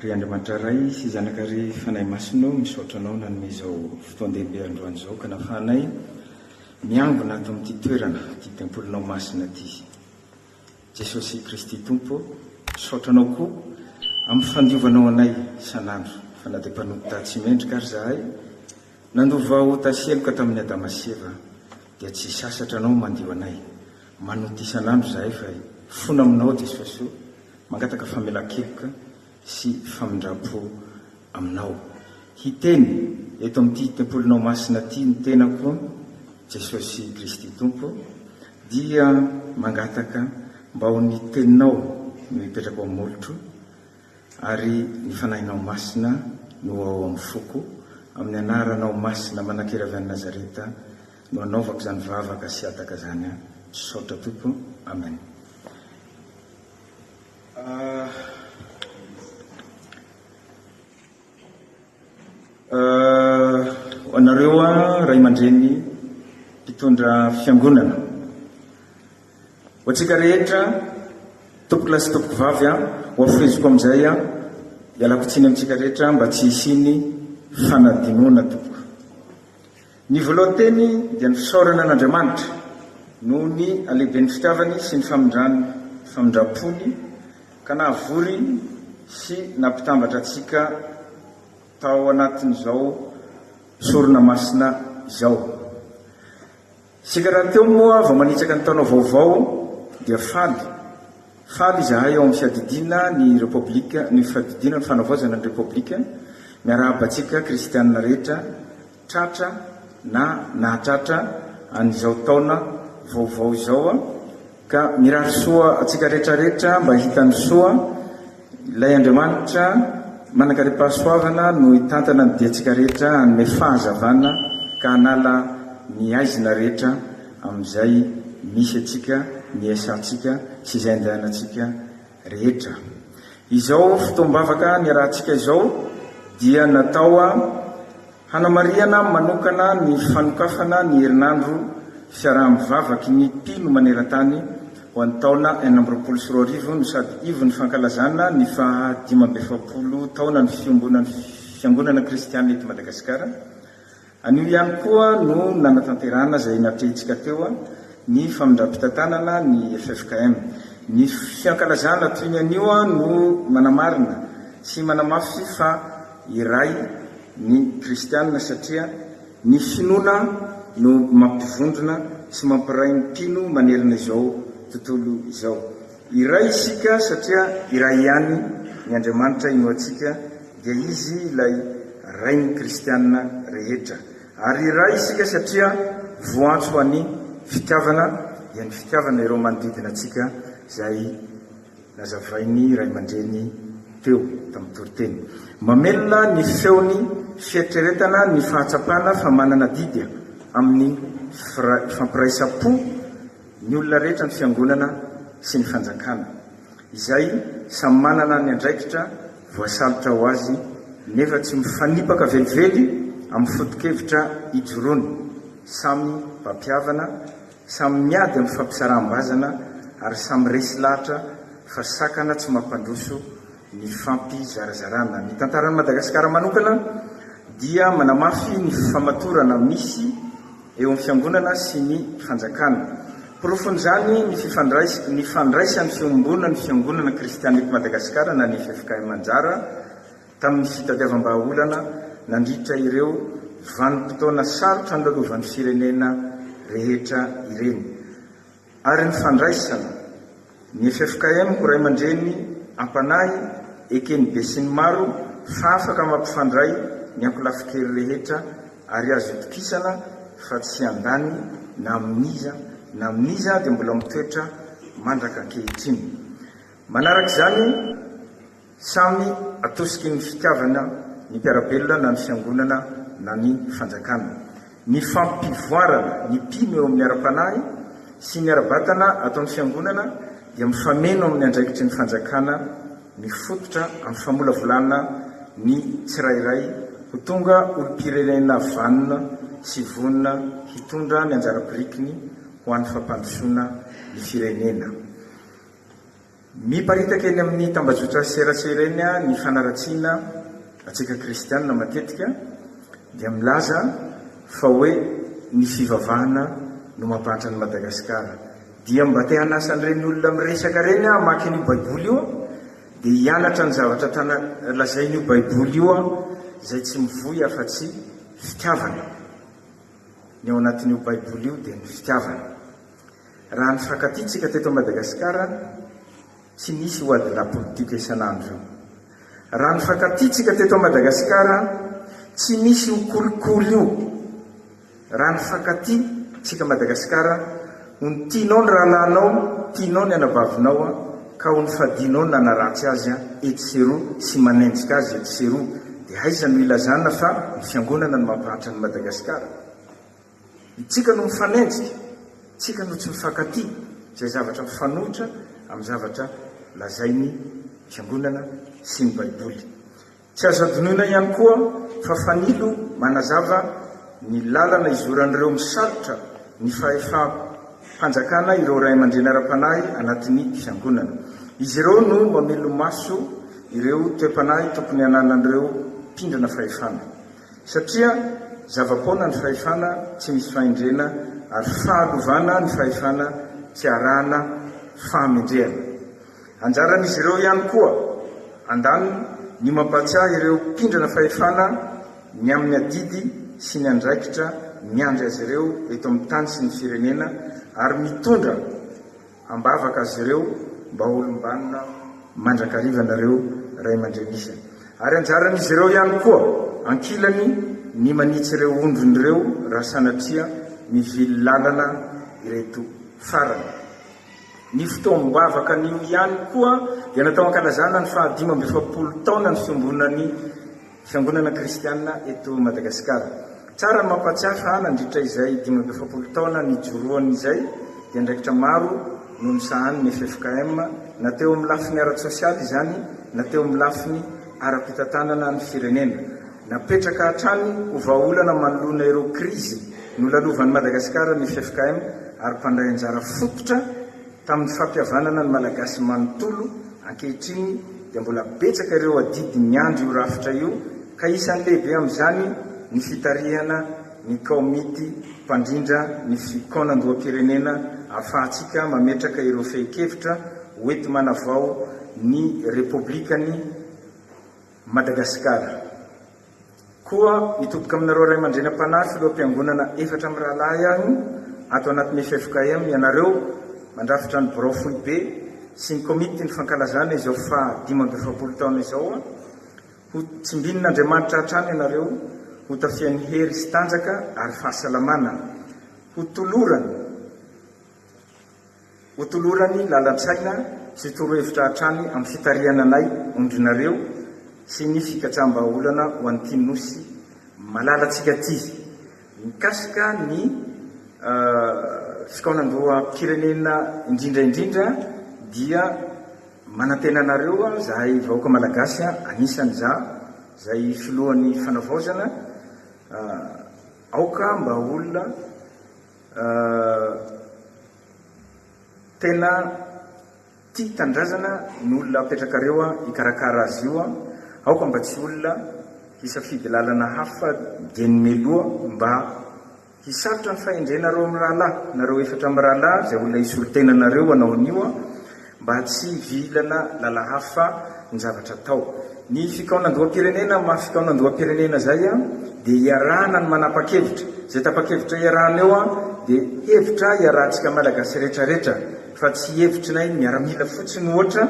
Ry Andriamanitra Ray sy Zanaka ary Fanahy Masina ô, misaotra Anao nanome izao fotoan-dehibe androany izao ka nafahanay miangona ato amin'ity toerana, ity tempolinao masina ity. Jesosy Kristy Tompo ô, misaotra Anao koa amin'ny fandiovanao anay isan'andro, fa na dia mpanota tsy mendrika ary izahay, nandova ota sy heloka tamin'i Adama sy Eva, dia tsy sasatra anao mandio anay manota isan'andro izahay fa fona aminao Jesoa Soa mangataka famelan-keloka sy famindram-po aminao hiteny eto amin'ity tempolinao masina ity ny tenako Jesosy Kristy Tompo dia mangataka mba ho ny teninao no hipetrako amin'ny molotro Ary ny Fanahinao Masina no ao amin'ny foko, amin'ny Anaranao Masina manan-kery avy any Nazareta no anaovako izany vavaka sy hataka izany an. Misaotra Tompo. Amen. Ho anareo Ray aman-dreny mpitondra Fiangonana. Ho antsika rehetra tompokolahy sy tompokovavy a, ho hafeheziko amin'izay a, ialako tsiny amintsika rehetra mba tsy hisian'ny fanadinoana tompoko. Ny voalohan'ny teny dia ny fisaorana an'Andriamanitra noho ny halehiben'ny fitiavany sy ny famindrany famindram-pony ka nahavory sy nampitambatra antsika tao anatin'izao sorona masina izao. Isika rahateo moa vao manitsaka ny taona vaovao dia faly. Faly izahay ao amin'ny Fiadidiana ny Repoblika, ny Fiadidiana ny Fanavaozana ny Repoblika, miarahaba antsika Kristiana rehetra tratra na nahatratra an'izao taona vaovao izao. Ka mirary soa antsika rehetra rehetra mba hitan'ny soa Ilay Andriamanitra manankarem-pahasoavana no hitantana ny diantsika rehetra hanome fahazavana ka hanala ny haizina rehetra amin'izay misy antsika ny iasantsika sy izay andehanantsika rehetra. Izao fotoam-bavaka niarahantsika izao dia natao Hanamarihana manokana ny fanokafana ny herinandro fiaraha-mivavaky ny mpino maneran-tany ho an'ny taona enina amby roapolo sy roa arivo no sady ivon'ny fankalazana ny faha dimy amby efapolo taonan'ny fiombonan'ny Fiangonana Kristianina eto Madagasikara. Anio ihany koa no nanatanterahana izay natrehintsika teo ny famindram-pitantanana ny ffkm. Ny fiankalazana toy ny anio no manamarina sy manamafy fa. iray ny kristiana satria ny finoana no mampivondrona sy mampiray ny mpino manerana izao tontolo izao. Iray isika satria iray ihany ny Andriamanitra inoantsika dia Izy ilay Rain'ny kristiana rehetra. Ary iray isika satria voantso ho an'ny fitiavana dia ny fitiavana ireo manodidina antsika izay Nazavain'ny ray aman-dreny teo tamin'ny toriteny mamelona ny feony fieritreretana ny fahatsapana fa manana adidy amin'ny fampiraisam-po ny olona rehetra ny Fiangonana sy ny Fanjakana, izay samy manana ny andraikitra voasalotra ho azy nefa tsy mifanipaka velively amin'ny foto-kevitra ijoroany, samy mpampihavana, Samy miady amin'ny fampisaraham-bazana ary samy resy lahatra fa sakana tsy mampandroso ny fampizarazarana. Ny tantaran'i Madagasikara manokana dia manamafy ny fifamatorana misy eo amin'ny fiangonana sy ny fanjakana. Porofon'izany ny fifandrais ny fandraisan'ny Fiombonan'ny Fiangonana Kristianina eto Madagasikara na ny ffkm anjara, tamin'ny fitadiavam-bahaolana nandritra ireo vanim-potoana sarotra nilalaovan'ny firenena rehetra ireny, ary ny fandraisana ny ffkm ho ray aman-dreny am-panahy eken'ny besinimaro fa afaka mampifandray ny ankolafin-kery rehetra ary azo itokisana fa tsy handany na amin'iza na amin'iza dia mbola mitoetra mandrak'ankehitriny. Manaraka izany, Samy atosiky ny fitiavana ny mpiara-belona na ny fiangonana na ny fanjakana. Ny fampivoarana ny mpino eo amin'ny ara-panahy sy ny ara-batana ataon'ny fiangonana dia mifameno amin'ny andraikitry ny fanjakana mifototra amin'ny famolavolana ny tsirairay ho tonga olom-pirenena vanona sy vonona hitondra ny anjara birikiny ho an'ny fampandrosoana ny firenena. Miparitaka eny amin'ny tambajotra serasera eny ny fanaratsiana antsika kristiana matetika dia milaza fa hoe ny fivavahana no mampahantra an'i Madagasikara. Dia mba te hanasa an'ireny olona miresaka ireny aho hamaky an'io baiboly io dia hianatra ny zavatra tana lazain'io baiboly io aho izay tsy mivoy afa-tsy fitiavana. Ny ao anatin'io baiboly io dia ny fitiavana. Raha ny fifankatia-tsika teto Madagasikara, tsy nisy io ady lapolitika isan'andro io. Raha ny fifankatia-tsika teto Madagasikara, tsy nisy io kolikoly io. Raha ny fifankatia, tsika Madagasikara, ony tianao ny rahalahinao, tianao ny anabavinao, ka ony fadianao ny nanaratsy azy etsy sy eroa sy manenjika azy etsy sy eroa, dia aiza no ilazana fa ny Fiangonana no mampahantra an'i Madagasikara? Isika no mifanenjika, isika no tsy mifankatia, izay zavatra mifanohitra amin'ny zavatra lazain'ny Fiangonana sy ny Baiboly. Tsy azo adinoina ihany koa fa fanilo manazava ny lalana izoran'ireo misalotra ny fahefam-panjakana ireo ray aman-dreny ara-panahy anatin'ny Fiangonana. Izy ireo no mamelo-maso ireo toe-panahy tokony hananan'ireo mpindrana fahefana. Satria zava-poana ny fahefana tsy misy fahendrena ary fahalovana ny fahefana tsy arahana fahamendrehana. Anjaran'izy ireo ihany koa, andaniny, ny mampahatsiahy ireo mpindrana fahefana ny amin'ny adidy sy ny andraikitra miandry azy ireo eto amin'ny tany sy ny firenena ary mitondra Ambavaka azy ireo mba holom-banona mandrakariva anareo ray aman-dreny isany. Ary anjaran'izy ireo ihany koa ankilany ny manitsy ireo ondriny ireo raha sanatria mivily lalana ireto farany. Ny fotoam-bavakan'io ihany koa dia natao hankalazana ny fahadimy amby efapolo taonan'ny fiombonan'i Fiangonana kristiana eto Madagasikara. Tsara ny mampahatsiahy fa nandritra izay dimy amby efapolo taona nijoroany izay dia andraikitra maro no nisahanin'ny ffkm na teo amin'ny lafiny ara-tsosialy izany na teo amin'ny lafiny ara-pitantanana ny firenena. Napetraka hatrany ho vahaolana manoloana ireo krizy nolalovan'i Madagasikara ny ffkm ary mpandray anjara fototra Tamin'ny fampihavanana ny Malagasy manontolo, ankehitriny dia mbola betsaka ireo adidy miandry io rafitra io ka isan'ny lehibe amin'izany ny fitarihana ny Kaomity mpandrindra ny fikaonandoham-pirenena ahafahantsika mametraka ireo fehin-kevitra hoenti-manavao ny Repoblikan'i Madagasikara. Koa mitoboka aminareo ray aman-dreny am-panahy, filoham-piangonana efatra mirahalahy aho ato anatin'ny ffkm, ianareo mandrafitra ny birao foibe sy ny komity ny fankalazana izao faha dimy amby efapolo taona izao, ho tsimbinin' Andriamanitra hatrany ianareo, hotafiany hery sy tanjaka ary fahasalamana, hotolorany Hotolorany lalan-tsaina sy torohevitra hatrany amin'ny fitarihana anay ondrinareo sy ny fikatsaham-bahaolana ho an'ity Nosy malalantsika ity mikasika ny fikaonandoham-pirenena indrindra indrindra dia manantena anareo zahay vahoaka malagasy anisany za zay filohan'ny fanavaozana aoka mba olona Tena tia tanindrazana ny olona apetrakareo hikarakara azy io an! Aoka mba tsy olona hisafidy lalana hafa dieny meloa mba hisarotra ny fahendrenareo mirahalahy, nareo efatra mirahalahy izay olona hisolo tena anareo hanao an'io an! mba tsy hivilana lala hafa ny zavatra atao. Ny fikaonandoham-pirenena maha fikaonandoham-pirenena zay dia hiarahana ny manapa-kevitra, zay tapa-kevitra hiarahana eo dia hevitra hiarahantsika Malagasy rehetra rehetra fa tsy hevitrinay miaramila fotsiny ohatra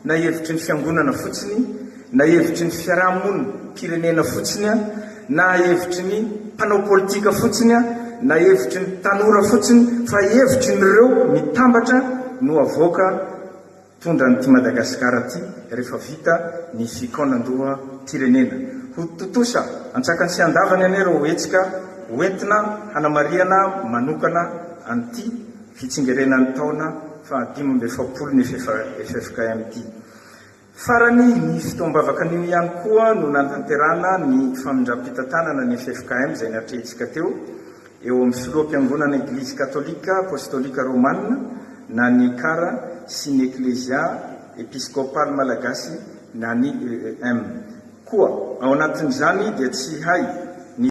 na hevitry ny fiangonana fotsiny, Na hevitry ny fiaraha-monim pirenena fotsiny an, na hevitry ny mpanao politika fotsiny an, na hevitry ny tanora fotsiny fa hevitry ny reo mitambatra no avoaka tondra an'ity Madagasikara ty refa vita ny fikaonandoha mpirenena. Ho tontosa antsakany sy andavany anie reo hetsika ho entina hanamarihana manokana an'ity fitsingerenan'ny taona faha dimy amby efapolo ny ffkm ty. Farany, ny fotoam-bavaka anio ihany koa no nanatanterahana ny famindram-pitantanana ny ffkm izay natrehintsika teo, eo amin'ny Filoham-piangonana Eglizy Katolika Apostolika Romana na ny Ecar sy ny Eklezia Episkopaly Malagasy na ny EEM koa. Ao anatin'izany dia tsy hay ny.